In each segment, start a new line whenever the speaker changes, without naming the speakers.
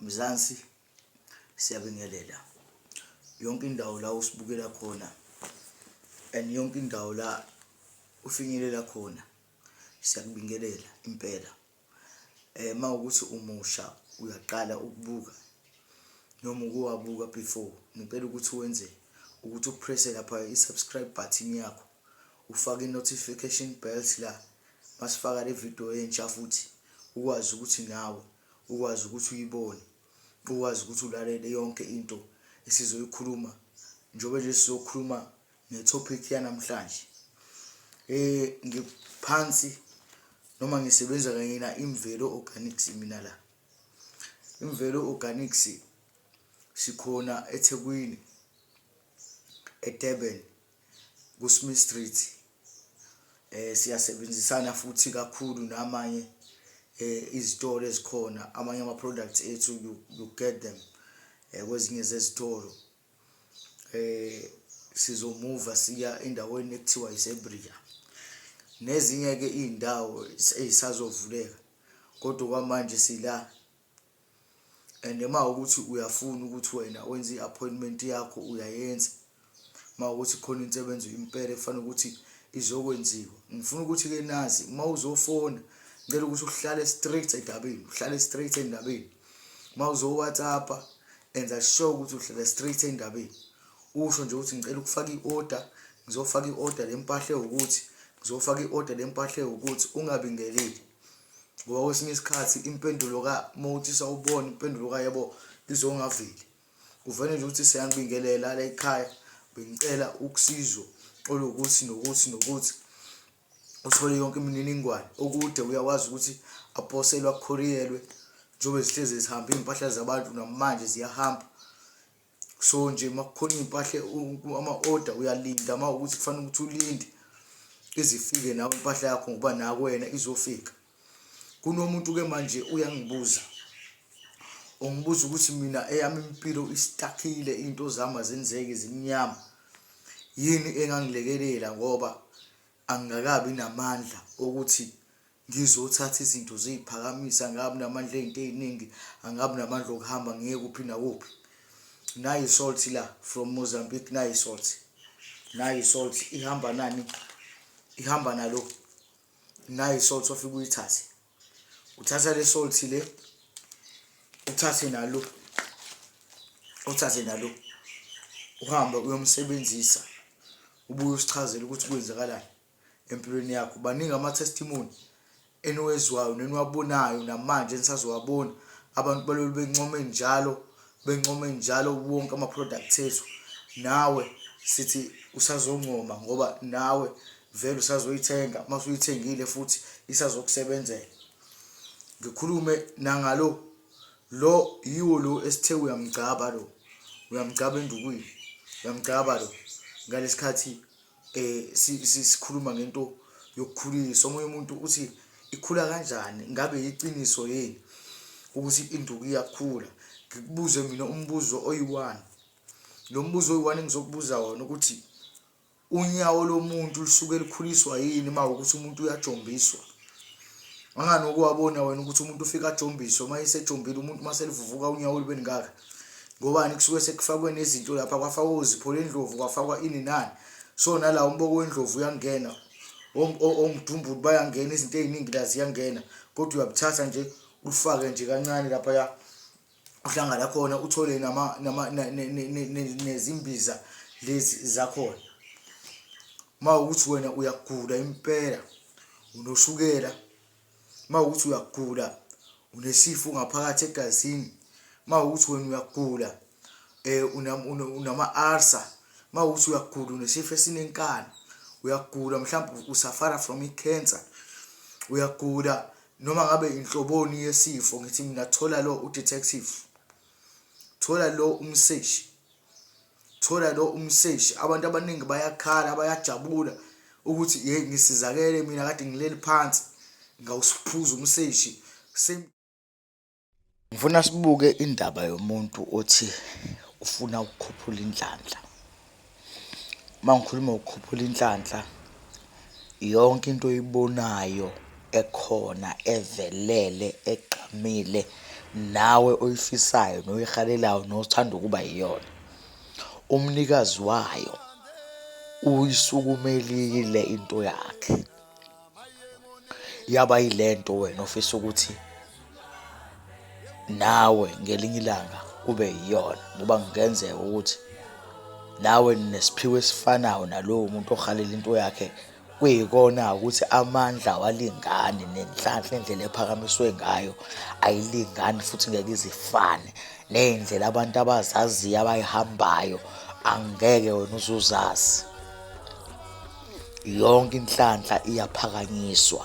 Mzansi siyabingelela yonke indawo la usibukela khona and yonke indawo la ufinyelela khona siyakubingelela impela eh mawukuthi umusha uyaqala ukubuka noma ukuwabuka before ngicela ukuthi wenze ukuthi upresse lapha i-subscribe button yakho ufake i notification bells la masifaka le video entsha futhi ukwazi ukuthi nawe ukwazi ukuthi uyibone ukwazi ukuthi ulalele yonke into esizoyikhuluma njengoba nje sizokhuluma ngetopic yanamhlanje eh ngiphansi noma ngisebenza kanye na imvelo organics mina la imvelo organics sikhona eThekwini eDurban kuSmith Street eh siyasebenzisana futhi kakhulu namanye eh izitolo ezikhona amanye ama products ethu you, you get them eh kwezinye zezitolo eh sizomuva siya endaweni ekuthiwa iSebria nezinye ke izindawo ezisazovuleka kodwa kwamanje sila and uma ukuthi uyafuna ukuthi wena wenze i-appointment yakho uyayenza uma ukuthi khona insebenzo impela ekufanele ukuthi izokwenziwa ngifuna ukuthi-ke nazi uma uzofona ngicela ukuthi uhlale straight endabeni uhlale straight endabeni uma uzo-whatsappa enza sure ukuthi uhlale straight endabeni usho nje ukuthi ngicela ukufaka i-order ngizofaka i-order lempahla ewukuthi ngizofaka i-order lempahla ewukuthi ungabingeleli ngoba kwesinye isikhathi impendulo ka uma uthi sawubona impendulo ka yebo izongaveli kuvele nje ukuthi siyanibingelela la ekhaya bengicela ukusizwa olukuthi nokuthi nokuthi uthole yonke imininingwane okude uyakwazi ukuthi aposelwe akhoriyelwe njengoba zihlezi zihamba iy'mpahla zabantu namanje ziyahamba so nje uma kukhona iy'mpahla ama-order uyalinda uma ukuthi kufanele ukuthi ulinde izifike nawe impahla yakho ngoba nakwena izofika kunomuntu ke manje uyangibuza ungibuza ukuthi mina eyami impilo istakile into zami azenzeki zimnyama yini engangilekelela ngoba angikakabi namandla okuthi Ngizothatha izinto ziyiphakamisa, angabi namandla ezinto eziningi, angabi namandla okuhamba ngiye kuphi nakuphi. Nayi isalt la from Mozambique, nayi isalt. Nayi isalt ihamba nani? Ihamba nalo. Nayi isalt ofika uyithathe. Uthatha le salt le. Uthathe nalo. Uthathe nalo. Uhambe uyomsebenzisa. Ubuye usichazele ukuthi kwenzakalani. empilweni yakho baningi ama testimony eniwezwayo neniwabonayo namanje enisazowabona abantu balolu bencome njalo bencome njalo wonke ama products ethu nawe sithi usazoncoma ngoba nawe vele usazoyithenga mase uyithengile futhi isazokusebenzela ngikhulume nangalo lo yiwo lo esithe uyamgcaba lo uyamgcaba endukwini uyamgcaba lo ngalesikhathi um sikhuluma ngento yokukhuliswa omunye umuntu uthi ikhula kanjani ngabe yiciniso yini ukuthi induku iyakhula ngikubuze mina umbuzo oyi-one lo mbuzo oyi-one engizokubuza wona ukuthi unyawo lomuntu lusuke likhuliswa yini uma ukuthi umuntu uyajombiswa angani ukuwabona wena ukuthi umuntu ufike ajombiswe uma esejombile umuntu uma selivuvuka unyawo olube lingaka ngobani kusuke sekufakwe nezinto lapha kwafakwa uzipho lendlovu kwafakwa ini nani so nala umboko wendlovu uyangena omdumbulu bayangena izinto eziningi la ziyangena kodwa uyabuthatha nje ulifake nje kancane lapha ya uhlangana khona uthole nama nama nezimbiza lezi zakhona uma ukuthi wena uyagula impela unoshukela uma ukuthi uyagula unesifo ngaphakathi egazini uma ukuthi wena uyagula um unama-arsa uma ukuthi uyagula unesifo esinenkani uyagula mhlawumbe usafara from i-cancer uyagula noma ngabe inhloboni yesifo ngithi mina thola lo udetective thola lo umseshi thola lo umseshi abantu abaningi bayakhala bayajabula ukuthi hey ngisizakele mina kade ngileli phansi ngawusiphuza umseshi ngifuna sibuke indaba yomuntu othi ufuna ukukhuphula inhlanhla uma ngikhuluma ukukhuphula inhlanhla Yonke into oyibonayo ekhona evelele egqamile nawe oyifisayo noyihalelayo nothanda ukuba yiyona umnikazi wayo uyisukumelile into yakhe yaba yilento wena ofisa ukuthi nawe ngelinye ilanga kube yiyona ngoba kungenzeka ukuthi nawe nesiphiwo esifanayo nalowo muntu ohalela into yakhe kuyikona ukuthi amandla awalingani nenhlanhla indlela ephakamiswe ngayo ayilingani futhi ngeke izifane ney'ndlela abantu abazaziyo abayihambayo angeke wena uzuzazi yonke inhlanhla iyaphakanyiswa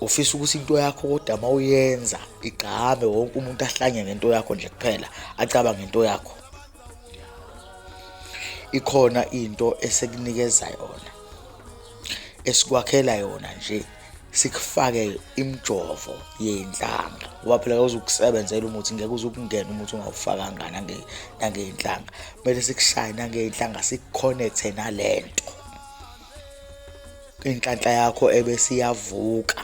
ufisa ukuthi into yakho kodwa uma uyenza igqame wonke umuntu ahlanye ngento yakho nje kuphela acabange into yakho ikhona into esekunikeza yona esikwakhela yona nje sikufake imjovo yenhlanga ngoba phela kawuzukusebenzela umuthi ngeke uzukungena umuthi ungawufakanga nangeyinhlanga kumele sikushaye nangeyinhlanga sikukhonethe nalento inhlanhla yakho ebese iyavuka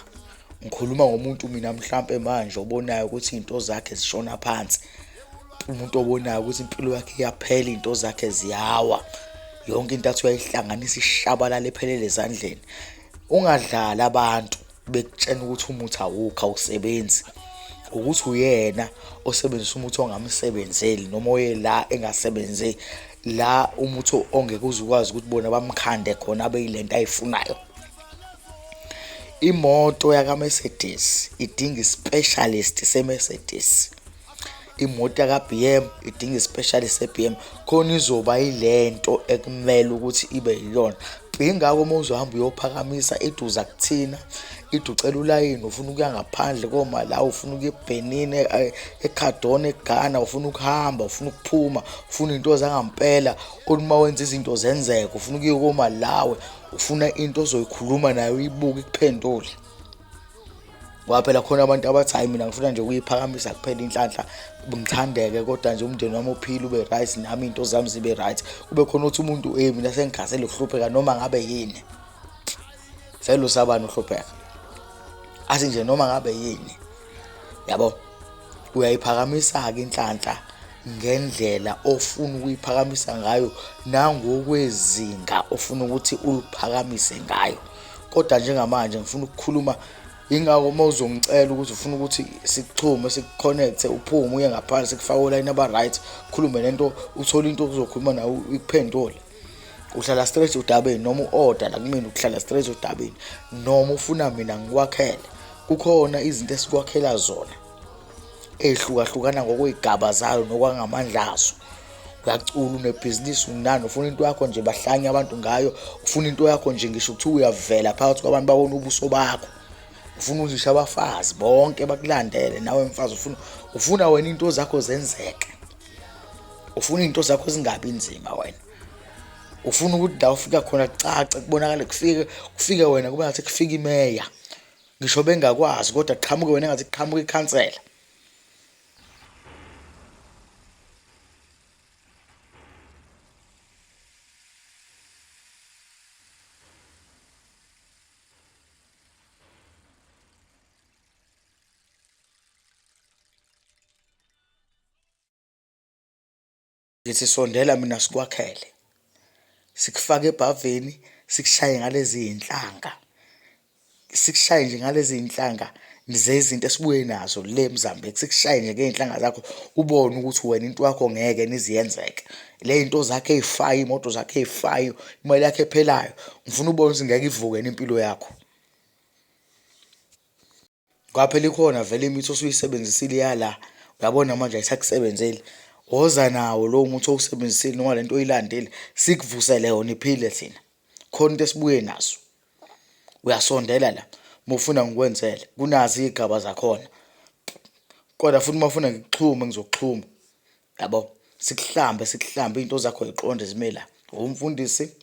ngikhuluma ngomuntu mina mhlampe manje obonayo ukuthi izinto zakhe zishona phansi umuntu obonayo ukuthi impilo yakhe iyaphela izinto zakhe ziyawa yonke into athi uyayihlanganisa ishabalala ephelele ezandleni ungadlali abantu bekutshena ukuthi umuthi awukho awusebenzi ukuthi uyena osebenzisa umuthi ongamsebenzeli noma oye la engasebenze la umuthi ongeke uze ukwazi ukuthi bona bamkhande khona abe yilento ayifunayo imoto yaka Mercedes idinga i specialist se Mercedes imoto yaka-BM idinga isipeshali se-BM khona izoba ilento ekumele ukuthi ibe yiyona ingakho uma uzohamba uyophakamisa iduza kuthina iducela ulayini ufuna ukuya ngaphandle komalawi ufuna ukuya ebhenini eh, ekhadona eghana ufuna ukuhamba ufuna ukuphuma ufuna iy'nto zangampela uma wenza izinto zenzeka ufuna ukuya komalawi ufuna into ozoyikhuluma nayo uyibuke ikuphendule ngoba phela khona abantu abathi hayi mina ngifuna nje ukuyiphakamisa kuphela inhlanhla ngithandeke kodwa nje umndeni wami uphile ube right nami into zami zibe right kube khona ukuthi umuntu hey mina sengigasele ukuhlupheka noma ngabe yini vele usabani uhlupheka athi nje noma ngabe yini yabo uyayiphakamisa-ke inhlanhla ngendlela ofuna ukuyiphakamisa ngayo nangokwezinga ofuna ukuthi uliphakamise ngayo kodwa njengamanje ngifuna ukukhuluma ingako uma uzongicela ukuthi ufuna ukuthi sikuxhume sikuconnecte uphume uye ngaphandle sikufake olayini aba-right khulume nento uthole into ozokhuluma nawe ikuphendule uhlala straight udabeni noma u-order la kumina ukuhlala straight udabeni noma ufuna mina ngikwakhele kukhona izinto esikwakhela zona ey'hlukahlukana ngokwey'gaba zayo nokwangamandla azo uyacula unebhizinisi unani ufuna into yakho nje bahlanye abantu ngayo ufuna into yakho nje ngisho kuthiwa uyavela phakathi kwabantu babona ubuso bakho ufuna uzisha abafazi bonke bakulandele nawe mfazi ufuna ufuna wena into zakho zenzeke ufuna into zakho zingabi nzima wena ufuna ukuthi la ufika khona kucace kubonakale kufike kufike wena kube ngathi kufika imeya ngisho bengakwazi kodwa qhamuke wena ngathi qhamuke ikhansela Ngithi sondela mina sikwakhele. Sikufake ebhavini, sikushaye ngalezi iy'nhlanga. Sikushaye nje ngalezi iy'nhlanga zezinto esibuye nazo le eMzanbek. Sikushaye nje ngey'nhlanga zakho ubone ukuthi wena into yakho ngeke yini ize yenzeke. Le iy'nto zakho ey'fayo, iy'moto zakho ey'fayo, imali yakho ephelayo, ngifuna ubone ukuthi ngeke ivuke yini impilo yakho. Kwaphela ikhona vele imithi osuyisebenzisile yala uyabona manje ayisakusebenzeli woza nawo lowo muthi owusebenzisile noma lento oyilandile sikuvusele yona iphile thina khona into esibuye naso uyasondela la mufuna ngikwenzele kunazi igaba zakhona kodwa futhi mafuna ngikuxhume ngizokuxhuma yabo sikuhlambe sikuhlambe into zakho ziqonde zimela umfundisi